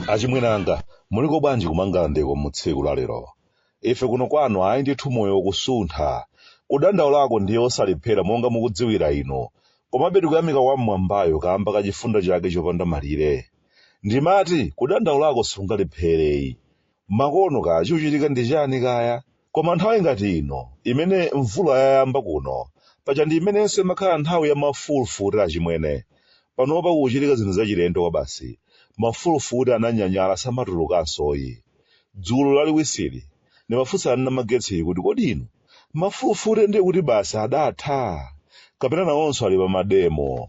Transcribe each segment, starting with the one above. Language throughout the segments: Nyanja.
achimwene anga muliko bwanji ku Mangalandeko mu tsiku la lero ife kuno kwanu ayi ndithu moyo ukusuntha kudandaulako ndiye osalephera monga mukudziwira inu komabe tikuyamika wam'mwambayo kaamba ka chifundo chake chopanda malire ndimati kudandaulako sungalephereyi Makono kaya chikuchitika ndi chani kaya, koma nthawi ngati ino imene mvula yayamba kuno, paja ndi imenenso imakhala nthawi ya mafulufute achimwene. Panopa kukuchitika zinthu zachilendo kwabasi, mafulufute ananyanyala samatulukansoyi. Dzulo laliwisiri, ndimafunsa a Namagetsi kuti kodi inu mafulufute ndiye kuti basi adatha? Kapena nawonso ali pa mademo?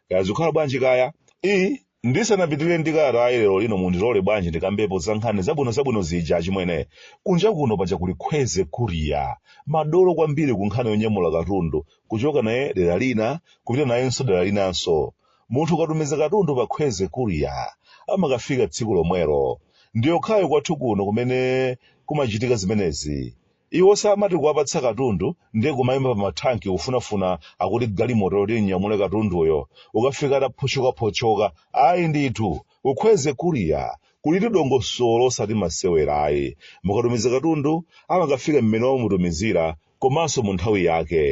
kaya zikukhala bwanji kaya i ndisanapitirire ndi kalatayi lero lino mundilole bwanji ndikambepo za nkhani zabwino zabwino zija achimwene kunja kuno paja kuli Khweze Courier madolo kwambiri ku nkhani yonyamula katundu kuchoka naye dera lina kupita nayenso dera linanso munthu ukatumiza katundu pa Khweze Courier amakafika tsiku lomwelo ndiyokhayo kwathu kuno kumene kumachitika zimenezi Iwo samati kuwapatsa katundu ndiye kumayima pa mathanki kufunafuna akuti galimoto yoti inyamule katunduyo, n'kukafika ataphotchokaphotchoka ayi ndithu, ku Khweze Courier kulitu dongosolo osati masewera ayi, mukatumiza katundu amakafika m'mene mwamutumizira komanso mu nthawi yake.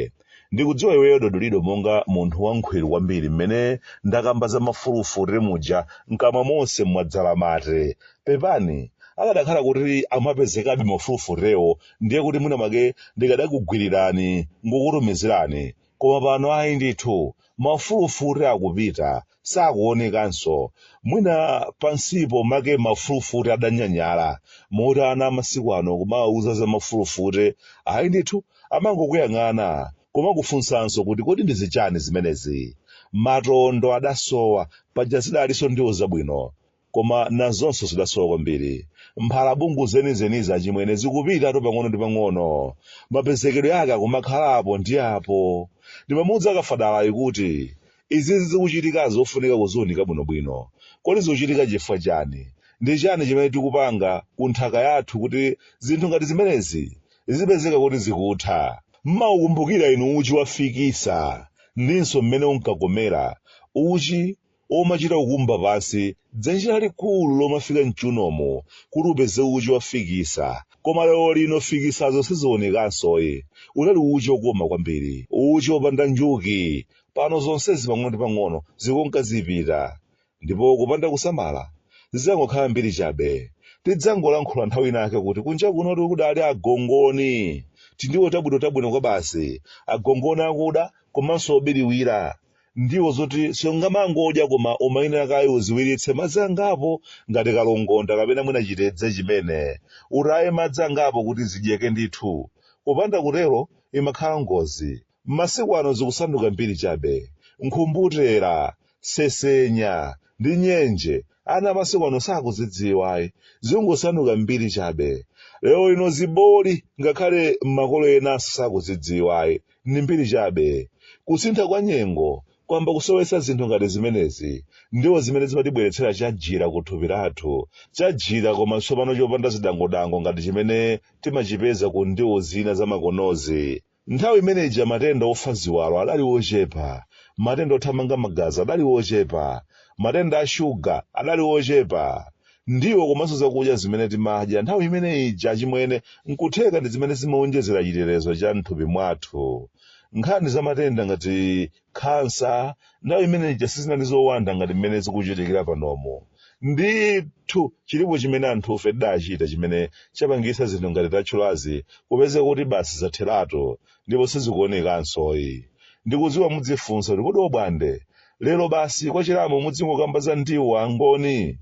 ndikudziwa inuyo Dodolido monga munthu wankhwiru kwambiri mmene ndakamba za mafulufute muja mkamwa monse mwadzala mate pepani akadakhala kuti amapezekabe mafulufutewo ndiye kuti mwina mwake ndikadakugwirirani n'kukutumizirani koma pano ayi ndithu mafulufute akupita sakuonekanso mwina pansipo make mafulufute adanyanyala moti ana amasiku ano kumawauza za mafulufute ayi ndithu amangokuyang'ana kumakufunsanso kuti kodi ndi zichani zimenezi matondo adasowa paja zidalinso ndiwo zabwino Koma nazonso zidasowa kwambiri. Mphalabungu zenizenizi achimwene zikupitatu pang'ono ndi pang'ono. Mapezekedwe ake akumakhala apo ndi apo. Ndimamuudza Kafadalayu kuti, Izizi zikuchitikazi zofunika kuziunika bwinobwino. Kodi zikuchitika chifukwa chani? Ndi chani chimene tikupanga ku nthaka yathu kuti zinthu ngati zimenezi zizipezeka kuti zikutha? Mmaukumbukira inu uchi wa fikisa ndinso mmene unkakomera? Uchi omachita kukumba pansi dzenje lalikulu lomafika m'chunomu kuti upeze uchi wa fikisa. Koma lero lino fikisazo sizionekansoyi. Unali uchi okoma kwambiri, uchi opanda njuki. Pano zonsezi pang'ono ndi pang'ono zikunka zipita. Ndipo kupanda kusamala, zidzangokhala mbiri chabe. Tidzangolankhula nthawi inaake kuti kunja kunotu kudali agongoni. Tindiwo tabwinotabwino kwabasi, agongoni akuda komanso obiriwira. ndiwo zoti sungamangodya koma umayenera kaye uziwiritse madzi angapo ngati kalongonda kapena mwina chitedze chimene utaye madzi angapo kuti zidyeke ndithu kupanda kutero imakhala ngozi masiku ano zikusanduka mbiri chabe nkhumbutera sesenya ndi nyenje ana masiku ano sakuzidziwayi zikungosanduka mbiri chabe lero lino ziboli ngakhale makolo enanso sakuzidziwayi ndi mbiri chabe kusintha kwa nyengo kwayamba kusowetsa zinthu ngati zimenezi ndiwo zimene zimatibweretsera chajira ku thupi lathu chajira koma tsopano chopanda zidangodango ngati chimene timachipeza ku ndiwo zina zamakonozi nthawi imene ija matenda ofa ziwalo adali ochepa matenda othamanga magazi adali ochepa matenda a shuga adali ochepa ndiwo komanso zakudya zimene timadya nthawi imene ija chimwene nkutheka ndi zimene zimawonjezera chitetezo cha mthupi mwathu nkhani za matenda ngati khansa nthawi imene ija sizinali zowanda ngati mmene zikuchitikira panomo ndithu chilipo chimene anthufe tidachita chimene chapangitsa zinthu ngati tatchulazi kupezeka kuti basi zatheratu ndipo sizikuonekansoyi ndikudziwa mudzifunsa kuti kodi obwande lero basi kwa chilambo mudzingokamba za ndiwo angoni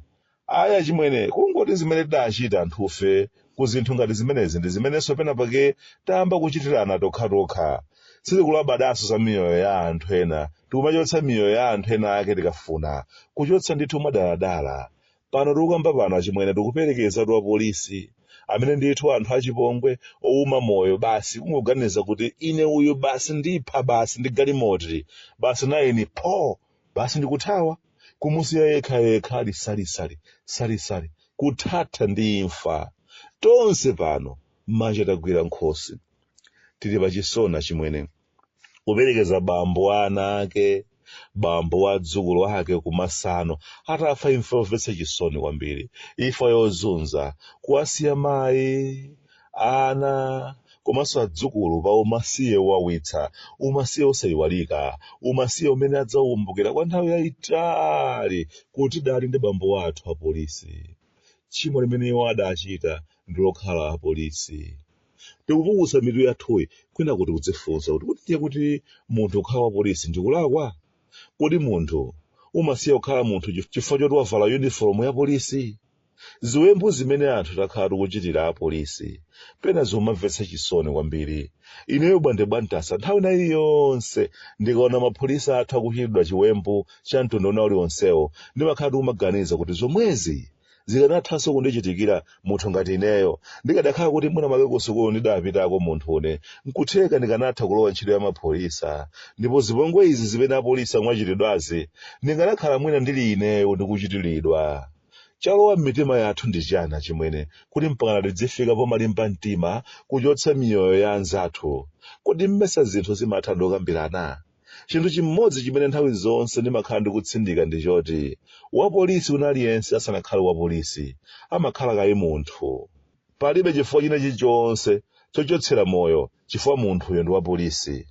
aya chimwene kungoti zimene tidachita anthufe ku zinthu ngati zimenezi ndi zimenenso pena pake tayamba kuchitirana tokhatokha sitikulabadanso za miyoyo ya anthu ena tikumachotsa miyoyo ya anthu ena ake tikafuna kuchotsa ndithu mwadaladala Pano tikukamba pano achimwene tikuperekezatu apolisi amene ndithu anthu achipongwe ouma moyo basi kungoganiza kuti ine uyu basi ndipha basi ndi galimoti basi nayeni pho basi ndikuthawa kumusiya yekha yekha ali salisali salisali kuthatha ndi imfa tonse pano manja tagwira nkhosi tili pachisoni achimwene kuperekeza bambo wa ana ake bambo wa adzukulu ake kumasano atafa imfa yomvetsa chisoni kwambiri imfa yozunza kuwasiya mayi ana komanso adzukulu pa umasiye wowawitsa umasiye osayiwalika umasiye umene adzaukumbukira kwa nthawi yayitali kuti tidali ndi bambo wathu apolisi tchimo limene iwo adachita ndi lokhala apolisi tikupukusa mitu yathuyi kwina kuti kudzifunsa kuti kodi ndiye kuti munthu kukhala wa polisi ndikulakwa kodi munthu umasiya kukhala munthu chifukwa choti wavala uniform ya polisi ziwembu zimene anthu takhala tikuchitira apolisi pena zumamvetsa chisoni kwambiri ineyo Bwande bwa Mtasa nthawi ina iliyonse ndikaona mapolisi athu akuchitidwa chiwembu cha mtundu wina uliwonsewo ndimakhala ndikumaganiza kuti zomwezi zikanathanso kundichitikira munthu ngati ineyo ndikadakhala kuti mwina mwake kusukulu ndidapitako munthune nkutheka ndikanatha kulowa ntchito ya mapholisa ndipo zipongwe izi zimene apolisi akumachitidwazi ndikanakhala mwina ndili ineyo ndikuchitiridwa chalowa m'mitima yathu ndi chana chimwene kuti mpaka tidzifika pomalimba mtima kuchotsa miyoyo ya anzathu kodi mmesa zinthu zimatha ndokambirana chinthu chimodzi chimene nthawi zonse ndimakhala ndikutsindika ndi choti wapolisi wina aliyense asanakhale wapolisi amakhala kaye munthu palibe chifukwa china chilichonse chochotsera moyo chifukwa munthuyo ndi wapolisi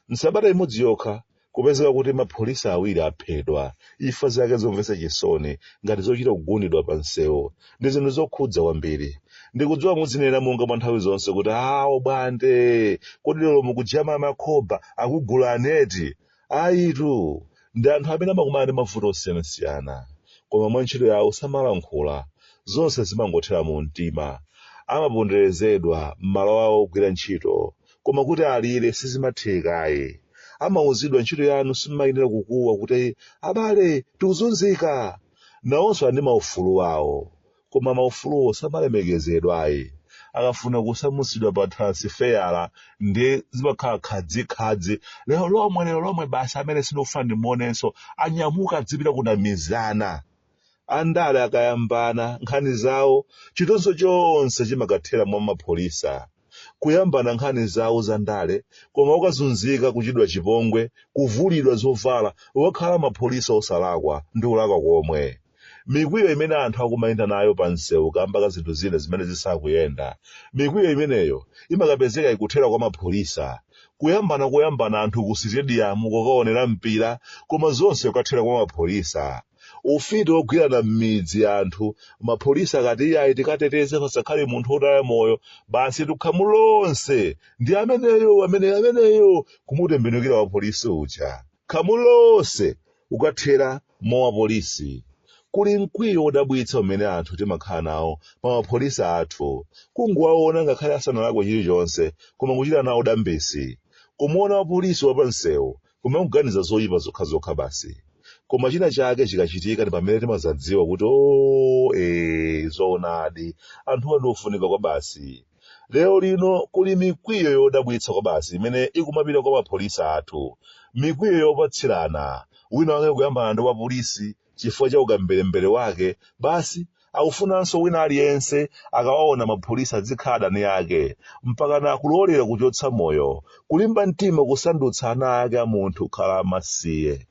msabata imodzi yokha kupezeka kuti mapholisa awiri aphedwa imfa zake zomvetsa chisoni ngati zochita kugundidwa pa msewu ndi zinthu zokhudza kwambiri ndikudziwa muzinena monga mwa nthawi zonse kuti a Bwande kodi lero mukujama makhoba akugula aneti ayitu ndi anthu amene amakumana ndi mavuto osiyanasiyana koma mwa ntchito yawo samalankhula zonse zimangothera mu mtima amaponderezedwa m'malo awo ogwira ntchito koma kuti alire sizimathekayi amauzidwa ntchito yanu simayenera kukuwa kuti abale tikuzunzika Nawonso ali ndi maufulu awo, koma maufuluwo samalemekezedwa ayi. Akafuna kusamutsidwa pa transfer ndiye zimakhala khadzikhadzi, lero lomwe, lero lomwe basi, amene sindikufuna ndimuonenso, anyamuka adzipita ku Namizana. Andale akayambana nkhani zawo, chitonzo chonse chimakathera mwa mapholisa. kuyambana nkhani zawo za ndale koma kukazunzika kuchitidwa chipongwe kuvulidwa zovala okhala mapholisa osalakwa ndi ulakwa komwe mikwiyo imene anthu akumayenda nayo pa msewu kamba ka zinthu zina zimene zisakuyenda mikwiyo imeneyo imakapezeka ikuthera kwa mapholisa kuyambana kuyambana anthu ku sitediyamu kukaonera mpira koma zonse kukathera kwa mapholisa ufiti wogwirana m'midzi anthu mapolisi akati iyayi tikateteze pasakhale munthu wotaya moyo basitu khamu lonse ndi ameneyo ameneyo ameneyo kumutembenukira wapolisi uja khamu lonse kukathera mwa wapolisi kuli mkwiyo wodabwitsa umene anthu timakhala nawo pa mapolisi athu kungowaona ngakhale asanalakwe chilichonse koma kuchita nawo dambisi kumuona wapolisi wapansewu Kumakuganiza zoipa zokhazokha basi. Koma china chake chikachitika ndi pamene timazadziwa kuti oo ee zoonadi anthuwa ndi ofunika kwabasi. Lero lino kuli mikwiyo yodabwitsa kwabasi imene ikumapita kwa mapholisa athu. Mikwiyo yopatsirana. Wina wake kuyambana ndi wapolisi chifukwa cha ukamberembere wake basi akufunanso wina aliyense akawaona mapolisa adzikhala adani ake mpakana kulolera kuchotsa moyo kulimba mtima kusandutsa ana ake a munthu kukhala amasiye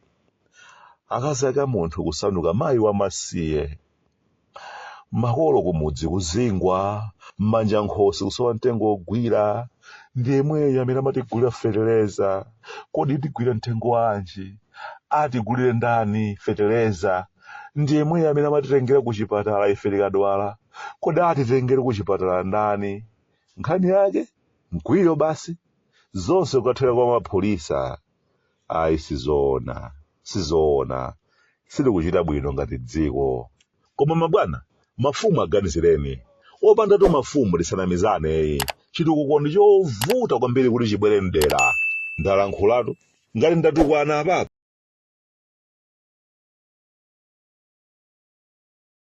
akazi ake a munthu kusanduka mayi wamasiye makolo kumudzi kuzingwa mmanja nkhosi kusowa mtengo wogwira ndi yemweyo amene amatigulira fetereza kodi tigwira mtengo wanji atigulire ndani fetereza ndi yemweyo amene amatitengera ku chipatala ife tikadwala kodi atitengere ku chipatala ndani nkhani yake mkwiyo basi zonse kukathera kwa mapholisa ayi sizoona sizoona sitikuchita bwino ngati dziko koma mabwana mafumu aganizireni opandatu mafumu tisanamizane chitukuko ndi chovuta kwambiri kuti chibwere mdera ndalankhulatu ngati ndatukwana apapa